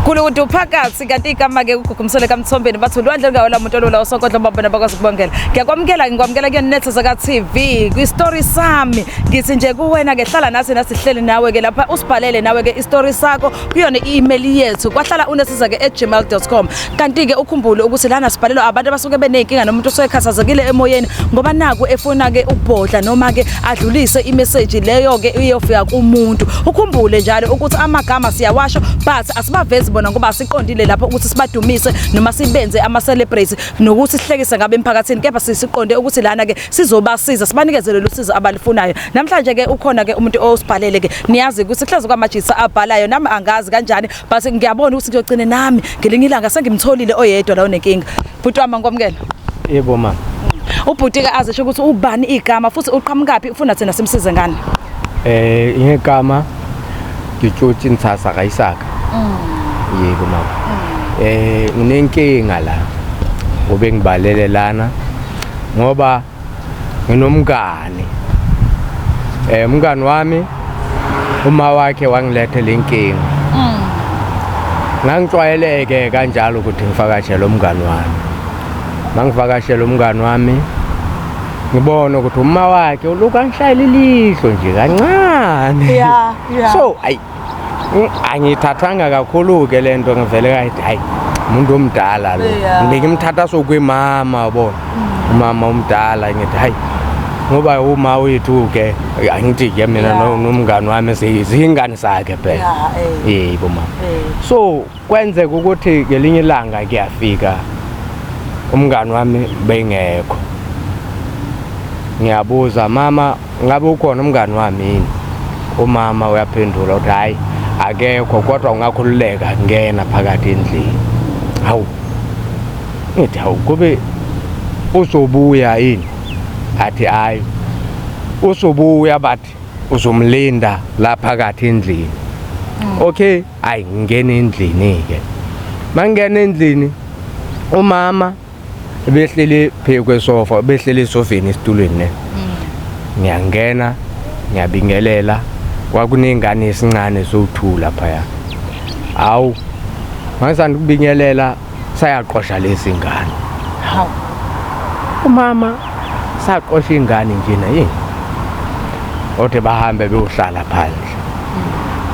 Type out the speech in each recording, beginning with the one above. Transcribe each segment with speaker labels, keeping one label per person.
Speaker 1: Khulu ukuthi uphakathi kanti igama ke ugugumisele kamthombeni bathi ulwandle lungawela umuntu olula osokodla babona bakwazi ukubongela. Ngiyakwamukela ngikwamukela kuyona netho zaka TV kwi story sami ngithi nje kuwena ke hlala nathi nasihleli nawe ke lapha usibhalele nawe ke istory sakho kuyona i-email yethu kwahlala unesiza ke @gmail.com kanti ke ukhumbule ukuthi lana sibhalelwa abantu abasuke beneyinkinga nomuntu osekhathazekile emoyeni ngoba naku efuna ke ukubhodla noma ke adlulise imeseji leyo ke iyofika kumuntu ukhumbule njalo ukuthi amagama siyawasho but asibavezi bona ngoba siqondile lapho ukuthi sibadumise noma sibenze ama celebrate nokuthi sihlekise ngabe emphakathini kepha sisiqonde ukuthi lana ke sizobasiza sibanikeze lolu sizo abalifunayo namhlanje ke ukhona ke umuntu osibhalele ke niyazi ukuthi kuhlaza kwamajisa abhalayo nami angazi kanjani but ngiyabona ukuthi ngiyogcine nami ngelinye ilanga sengimtholile oyedwa la onenkinga bhuti wami ngikwamukela yebo mama
Speaker 2: ubhuti-ke
Speaker 1: azisho ukuthi ubani igama futhi uqhamukaphi ufuna thina simsize ngani eh
Speaker 2: ingegama ngitshotshi nthasa kayisaka mm. yebo mama mm. eh nginenkinga la obengibalele lana ngoba nginomngani eh umngani wami uma wakhe wangilethe lenkinga mm. ngangixwayeleke kanjalo ukuthi ngifakashele umngani wami mangivakashele umngani wami ngibona ukuthi uma wakhe ulokhu angishayela ilihlo nje kancane so
Speaker 1: ayi
Speaker 2: angiyithathanga kakhulu-ke le nto ngivele kayithi hayi umuntu omdala lo bengimthatha sokwimama bona mm. umama omdala ngithi hayi ngoba uma wethu-ke angithi-ke mina nomngani wami ziyingane zakhe phela eh. yebo mama eh. so Kwenzeka ukuthi ngelinye ilanga kuyafika umngani wami bengekho. Ngiyabuza mama ngabe ukhona umngani wami yini? Umama uyaphendula uthi hayi akekho kodwa ungakhululeka ngena phakathi endlini. Hawu. Ngithi hawu kube uzobuya yini? Athi hayi. Uzobuya bathi uzomlinda la phakathi endlini. Okay. Ayi ngingena endlini-ke mangingena endlini umama behleli phezu kwesofa behleli esofeni esitulweni ne mm. ngiyangena ngiyabingelela kwakunengane esincane sowu-two laphaya hawu mangisanda ukubingelela sayaqosha lezi ngane hawu umama saqosha ingane njena yini othe bahambe beyohlala phandle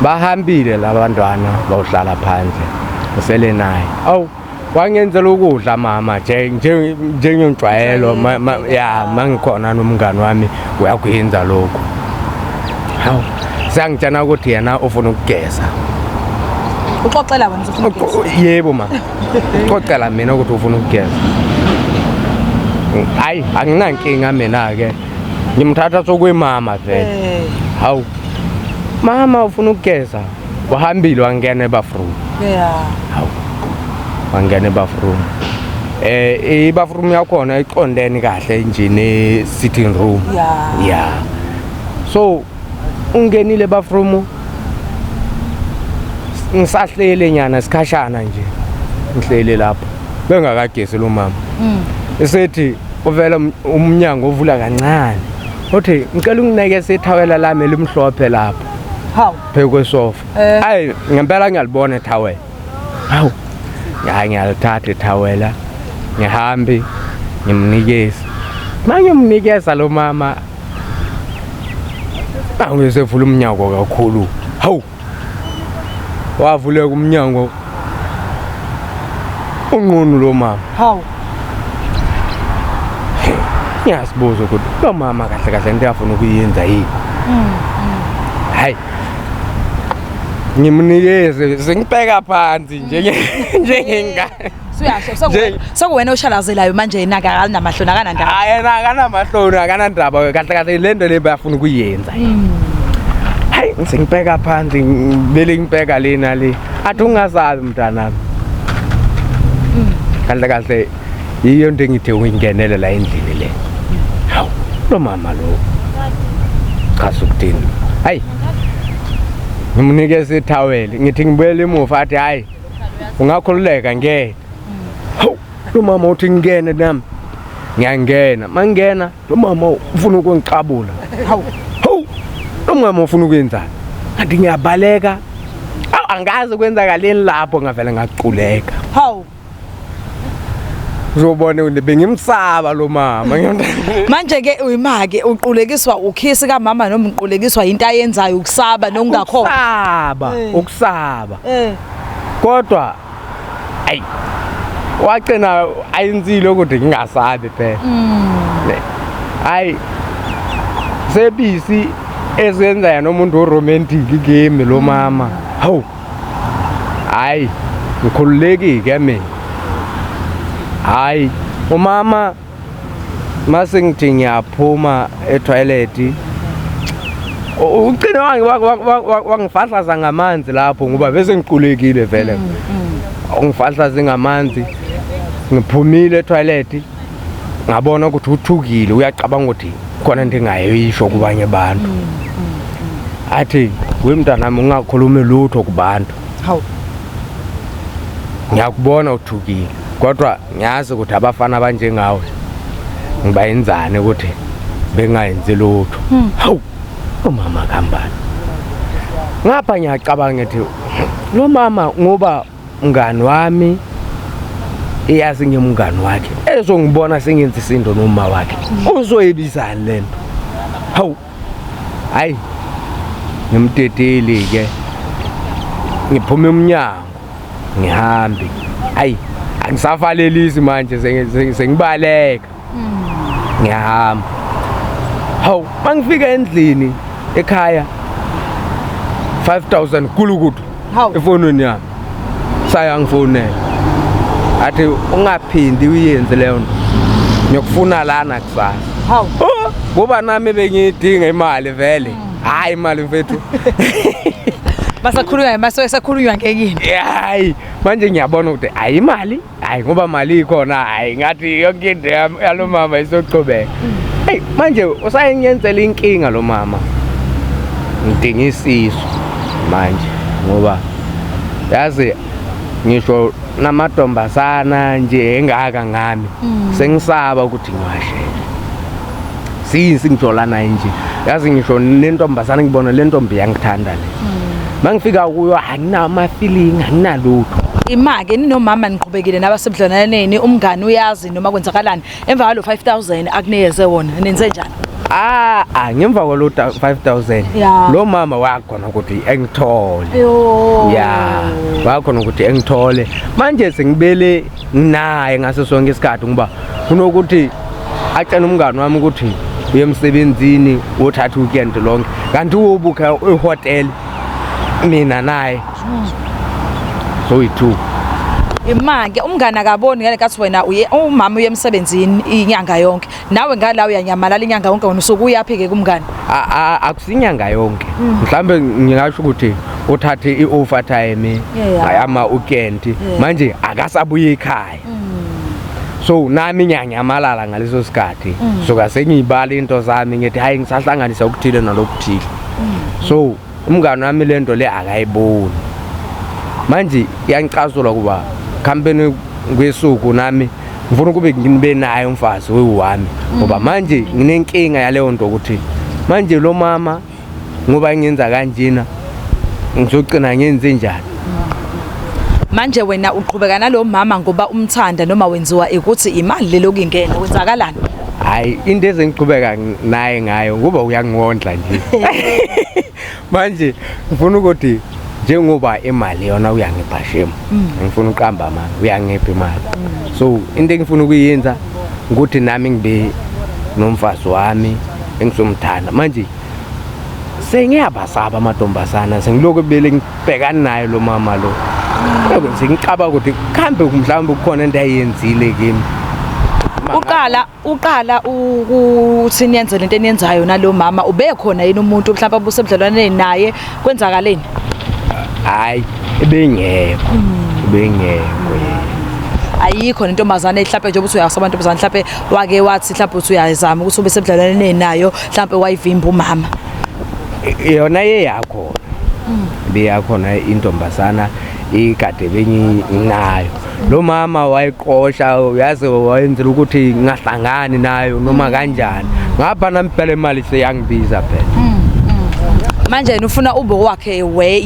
Speaker 2: bahambile labantwana bawuhlala phandle usele naye awu wangenzela ukudla mama njengenjwayelo ya mangikhona nomngani wami uyakwenza lokhu hawu sangitshena ukuthi yena ufuna ukugeza
Speaker 1: uxoxela wena yebo ma
Speaker 2: uxoxela mina ukuthi ufuna ukugeza hayi anginankinga mina-ke ngimthatha sokwemama vele eh. hawu mama ufuna ukugeza wahambile wangena ebathroom hawu wangena ebathroom eh ibathroom yakhona iqondene kahle nje ne sitting room yeah so ungenile bathroom ngisahlele nyana sikhashana nje ngihlele lapho bengakagesi lo mama mm. esethi uvela um-, umnyango ovula kancane uthi ngicela ungineke sethawela lami elimhlophe lapho phezu
Speaker 1: kwesofa
Speaker 2: eh. ayi ngempela ngiyalibona ethawela hawu hayi ngiyalithatha ithawela ngihambe ngimnikeze manje umnikeza lo mama angizevula umnyango kakhulu hawu wavuleka umnyango unqunu lo mama hawu ngiyazibuza ukuthi lo mama kahle kahle into yafuna ukuyenza yini mm. ngimnikeze sengibheka phansi njenge mm. njengengane
Speaker 1: suyasho sekuwena oshalazelayo manje yena akanamahloni akanandaba hayi yena akanamahloni
Speaker 2: akanandaba kahle kahle le nto le bayafuna ukuyenza mm. hayi sengibheka phansi bele ngibheka lena le athi ungazabi mntanami mm. kahle kahle yiyo into engithe uyingenele la endlini le hawu lo mama lo cha sukuthini hayi ngimnikeza ithaweli ngithi ngibuyele emuva athi hayi ungakhululeka ngeke hawu lo mama uthi ngingene nami ngiyangena mangena lo mama ufuna ukungixabula hawu hawu lo mama ufuna ukwenzani kanti ngiyabaleka angazi kwenzakaleni lapho ngavele ngaculeka hawu uzobona ukuthi bengimsaba lo mama manje ke
Speaker 1: uyimake uqulekiswa ukhisi kamama noma uqulekiswa into ayenzayo ukusaba nokungakho ukusaba eh. ukusaba
Speaker 2: eh. kodwa ayi wacina ayenzile ukuthi ngingasabi phela mm. hayi sebisi ezenza yena umuntu oromantic kimi lo mama mm. hawu hayi ngikhululekike mina hayi umama mase ngithi ngiyaphuma etoileti ucine wangifahlaza ngamanzi lapho ngoba bese ngiqulekile vele mm, mm. ungifahlaze ngamanzi ngiphumile etoileti ngabona ukuthi uthukile uyacabanga ukuthi khona into engayisho kubanye abantu mm, mm, mm. athi we mntanami ungakhulumi lutho kubantu hawu ngiyakubona uthukile kodwa ngiyazi ukuthi abafana abanjengawe ngibayenzane ukuthi bengayenzi lutho hmm. hawu umama kambani ngapha ngiyacabanga ukuthi lo mama ngoba Mngani wami iyazi ngimngani wakhe ezongibona sengenza isindo noma wakhe uzoyibizani lento hawu hayi ngimdedeli ke ngiphume umnyango ngihambe ayi angisavalelisi manje sengibaleka ngiyahamba hawu mangifika endlini ekhaya 5000 kulukudu efonweni yami saya ngifonela athi ungaphindi uyenze leyo nto ngiyokufuna lana kusasa hawu oh,
Speaker 1: ngoba nami
Speaker 2: bengiyidinga imali vele mm. hayi imali mfethu basakhulunywa
Speaker 1: maso esakhulunywa ngekini hayi
Speaker 2: manje ngiyabona ukuthi ayimali hayi ngoba mali ikhona hayi ngathi yonke into yalo mama isochobeka hey manje usayenyenzela inkinga lo mama ngidinga isisu manje ngoba yazi ngisho namadombazana nje engaka ngami mm. sengisaba ukuthi ngiwashela since ngijola naye nje yazi ngisho nentombazane ngibona le ntombi yangithanda le mangifika kuyo anginama ama feeling anginalutho imake ninomama
Speaker 1: niqhubekile nabasebudlananeni umngani uyazi noma kwenzakalani emva kwalo 5000 akuneyeze wona nenze njani Ah, ah ngemva
Speaker 2: kwalo 5000 lo mama wakhona ukuthi engithole. Yeah. Wakhona ukuthi engithole. Manje sengibele nginaye ngaso sonke isikhathi ngoba kunokuthi atshena umngani wami ukuthi uye emsebenzini wothatha weekend lonke kanti uwubukha ihotel mina naye soyi-two imake
Speaker 1: umngane akaboni ngale kathi wena umama uye emsebenzini inyanga yonke nawe ngala uyanyamalala inyanga yonke wena usuke uyaphi ke kumngane A- a- akusinyanga
Speaker 2: yonke Mm. mhlawumbe ngingasho ukuthi uthathe i-overtime Yeah. ngayama ukenti Yeah. Mm. manje akasabuye ekhaya so nami ngiyanyamalala ngaleso sikhathi Mm. suka sengiyibala into zami ngithi hhayi ngisahlanganisa okuthile nalokuthile so umngane wami le nto le akayiboni manje yangicasula kuba khampeni kwesuku nami ngifuna ukube ngibe naye umfazi wewami ngoba mm. manje nginenkinga yaleyo nto ukuthi manje lo mama ngoba ngenza kanjena ngizogcina ngenze njani
Speaker 1: manje wena uqhubeka nalo mama ngoba umthanda noma wenziwa ikuthi imali lelo kingena wenzakalani hayi into
Speaker 2: ezengiqhubeka naye ngayo ngoba uyangondla nje manje ngifuna ukuthi njengoba imali yona uyangipha shame mm. ngifuna uqamba manje uyangipha imali mm. so into engifuna ukuyenza ukuthi nami ngibe nomfazi wami engisomthanda manje sengiyabasaba amantombazana sengiloku bele bhekani naye lo mama lo ngize ngicaba ukuthi kuhambe mhlawumbe kukhona into ayenzile kimi uqala
Speaker 1: uqala ukuthi niyenzele into eniyenzayo nalomama ubekhona yini umuntu mhlawumbe abusebudlelwaneni naye kwenzakaleni
Speaker 2: hayi ebengekho hmm. ebengekho
Speaker 1: ayikho nentombazane mhlawumbe njengoba uthi uyasa abantu bezana mhlawumbe wake wathi mhlawumbe uthi uyazama ukuthi ube sebudlelwaneni nayo mhlawumbe wayivimba umama
Speaker 2: yona yeyakhona mm. beyakhona intombazana ikade benginayo lo mama wayiqosha uyazi wayenzela ukuthi ngahlangani nayo noma kanjani ngapha nami phela imali seyangibiza phela mm, mm. manje
Speaker 1: yena ufuna ube wakhe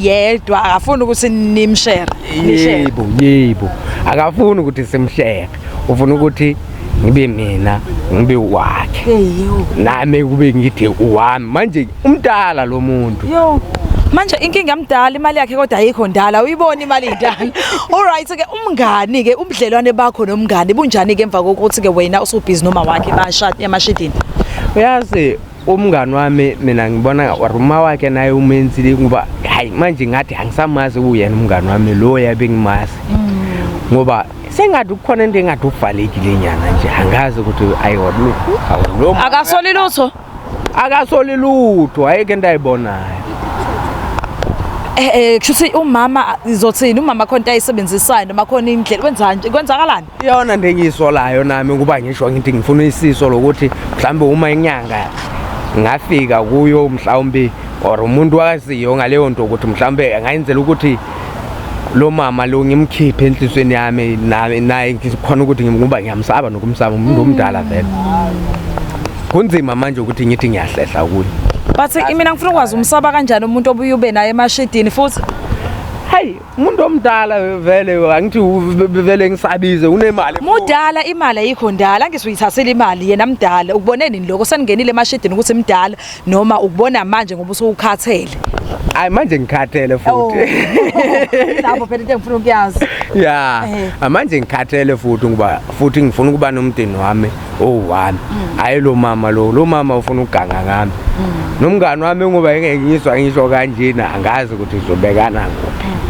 Speaker 1: yedwa akafuni ukuthi nimshere yebo
Speaker 2: yebo akafuni ukuthi simshere ufuna ukuthi ngibe mina ngibe wakhe nami kube ngithe uwami manje umdala lo muntu manje
Speaker 1: inkinga yamdala imali yakhe kodwa ayikho ndala uyibona imali indala alright ke umngani ke ubudlelwane bakho nomngani bunjani ke emva kokuthi ke wena usubhizi noma wakhe bashade emashidini uyazi
Speaker 2: umngani wami mina ngibona or uma wakhe naye umenzile ngoba hayi manje ngathi angisamazi uyena umngani wami lo yabe ngimazi ngoba sengathi kukhona into engathi uvalekile nyana nje angazi ukuthi ayiwabulu awulo akasoli lutho akasoli lutho ayike into ayibonayo eh
Speaker 1: eh kushuthi umama izothini umama khona into ayisebenzisayo noma khona indlela kwenzani kwenzakalani iyona nto
Speaker 2: engiyisolayo nami ukuba ngisho ngithi ngifuna isiso lokuthi mhlawumbe uma inyanga ngafika kuyo mhlawumbe or umuntu wakaziyo ngaleyo nto ukuthi mhlawumbe angayenzela ukuthi lo mama lo ngimkhiphe enhlisweni yami naye ngikhona ukuthi ngimkuba ngiyamsaba nokumsaba umuntu omdala vele kunzima manje ukuthi ngithi ngiyahlehla kuye but imina
Speaker 1: ngifuna ukwazi umsaba kanjani umuntu obuye ube naye emashidini futhi hayi
Speaker 2: umuntu omdala vele angithi vele ngisabize unemali mudala imali
Speaker 1: ayikho ndala angisuyithathela imali yena mdala ukubone nini lokho seningenile emashidini ukuthi mdala noma ukubona manje ngoba usukhathele hayi manje
Speaker 2: ngikhathele futhi oh.
Speaker 1: lapho phela into engifuna ukuyazi ya
Speaker 2: eh. manje ngikhathele futhi ngoba futhi ngifuna ukuba nomdeni wami owu-one mm. hhayi lo mama lo lo mama ufuna ukuganga ngami mm. nomngani wami ngoba engengizwa ngisho kanjena angazi ukuthi uzobekana kuphi mm,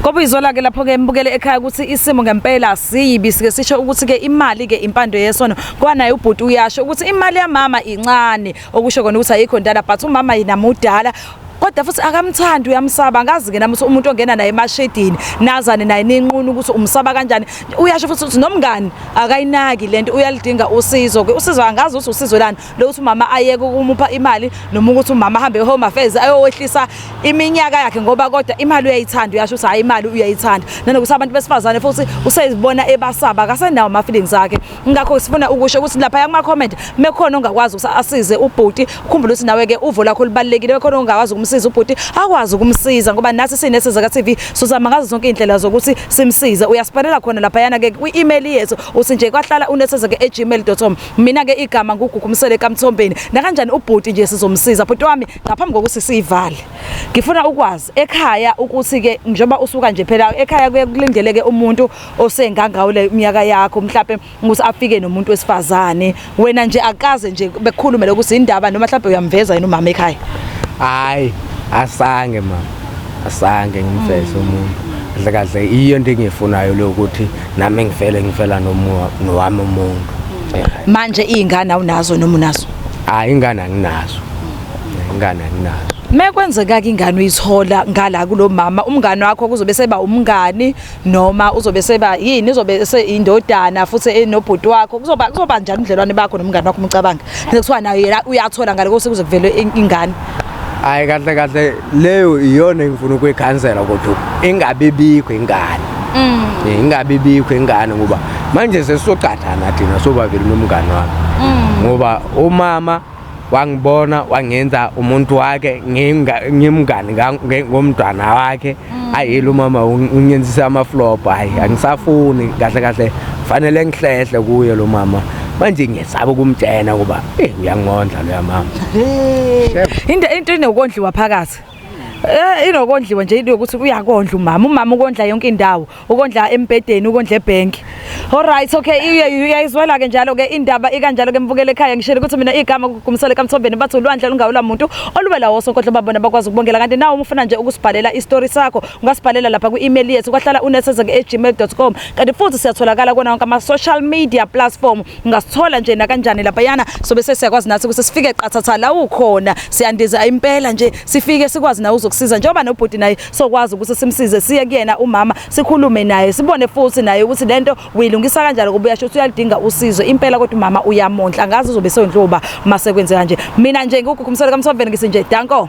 Speaker 1: Kobe izolake lapho ke mbukele ekhaya ukuthi isimo ngempela siyibi sike sisho ukuthi ke imali ke impando yesono kwanaye ubhuti uyasho ukuthi imali yamama incane okusho kona ukuthi ayikho ndala but umama yinamudala kodwa futhi akamthandi uyamsaba ngazi ke namuthi umuntu ongena naye emashedini nazane naye ninqunu ukuthi umsaba kanjani uyasho futhi ukuthi nomngani akayinaki lento uyalidinga usizo ke usizo angazi ukuthi usizo lani lokuthi umama ayeke ukumupha imali noma ukuthi umama ahambe home affairs ayowehlisa iminyaka yakhe ngoba kodwa imali uyayithanda uyasho ukuthi hayi imali uyayithanda nanokuthi abantu besifazane futhi usezibona ebasaba akasenawo ama feelings akhe ngakho sifuna ukusho ukuthi lapha kuma comment mekhona ongakwazi ukuthi asize ubhuti ukhumbule ukuthi nawe ke uvo lakho libalekile mekhona ongakwazi ukumsiza ubhuti akwazi ukumsiza ngoba nathi sinesizwe ka TV sozama ngazo zonke indlela zokuthi simsize uyasipalela khona lapha yana ke kwi email yethu uthi nje kwahlala unesizwe ke gmail.com mina ke igama ngugugumisele kamthombeni nakanjani ubhuti nje sizomsiza bhuti wami ngaphambi kokuthi sivale ngifuna ukwazi ekhaya ukuthi ke njengoba usuka nje phela ekhaya kuye kulindeleke umuntu osengangawo le minyaka yakho mhlawumbe ukuthi afike nomuntu wesifazane wena nje akaze nje bekukhulume lokuthi indaba noma mhlawumbe uyamveza yena umama ekhaya hayi
Speaker 2: asange mama asange ngimfese umuntu kahle kahle iyo into engiyifunayo leyo ukuthi nami ngifele ngifela nowami umuntu manje
Speaker 1: iy'ngane awunazo noma unazo hayi ingane
Speaker 2: anginazo ingane anginazo
Speaker 1: mekwenzeka ke ingane uyithola ngala kulomama umngane wakho kuzobe seba umngani noma uzobe seba yini uzobe indodana futhi enobhuti wakho kuzoba kuzoba njani ubudlelwane bakho nomngane wakho umcabanga sekuthiwa nayo yena uyathola ngale kose kuze kuvele ingane hayi kahle
Speaker 2: kahle leyo iyona engifuna ukuyikhansela kodwa ingabe bikho ingane mm. eh, ingabe bikho ingane ngoba manje sesizocathana thina sobabili nomngane wami mm. ngoba umama wangibona wangenza umuntu wake ngimngani ngomntwana wakhe mm. ayile umama ungenzisa amaflop hayi angisafuni kahle kahle fanele ngihlehle kuye lo mama manje ngiyesaba ukumtshena kuba eyi uyangondla loya mama
Speaker 1: into into inokondliwa phakathi Eh inokondliwa nje into yokuthi uyakondla umama umama ukondla yonke indawo ukondla embedeni ukondla ebhenki Alright okay iye uyayizwela ke njalo ke indaba ikanjalo ke mbukele ekhaya ngishele ukuthi mina igama kugumisele kamthombeni bathi ulwandle lungawula muntu olubela woso kodwa babona bakwazi ukubongela kanti nawe umfuna nje ukusibhalela istory sakho ungasibhalela lapha kwi-email yethu kwahlala unesezeke@gmail.com kanti futhi siyatholakala kona wonke ama social media platform ngasithola nje nakanjani laphayana sobe sesiyakwazi nathi ukuthi sifike qathatha la ukhona siyandiza impela nje sifike sikwazi nawe uzokusiza njengoba nobhuti naye sokwazi ukuthi simsize siye kuyena umama sikhulume naye sibone futhi naye ukuthi lento uyilungisa kanjani ngoba uyasho ukuthi uyalidinga usizo impela kodwa umama uyamondla ngazi uzobe sewendloba uma sekwenzeka nje mina nje ngikukhumsela kamsoveni ngisinje danko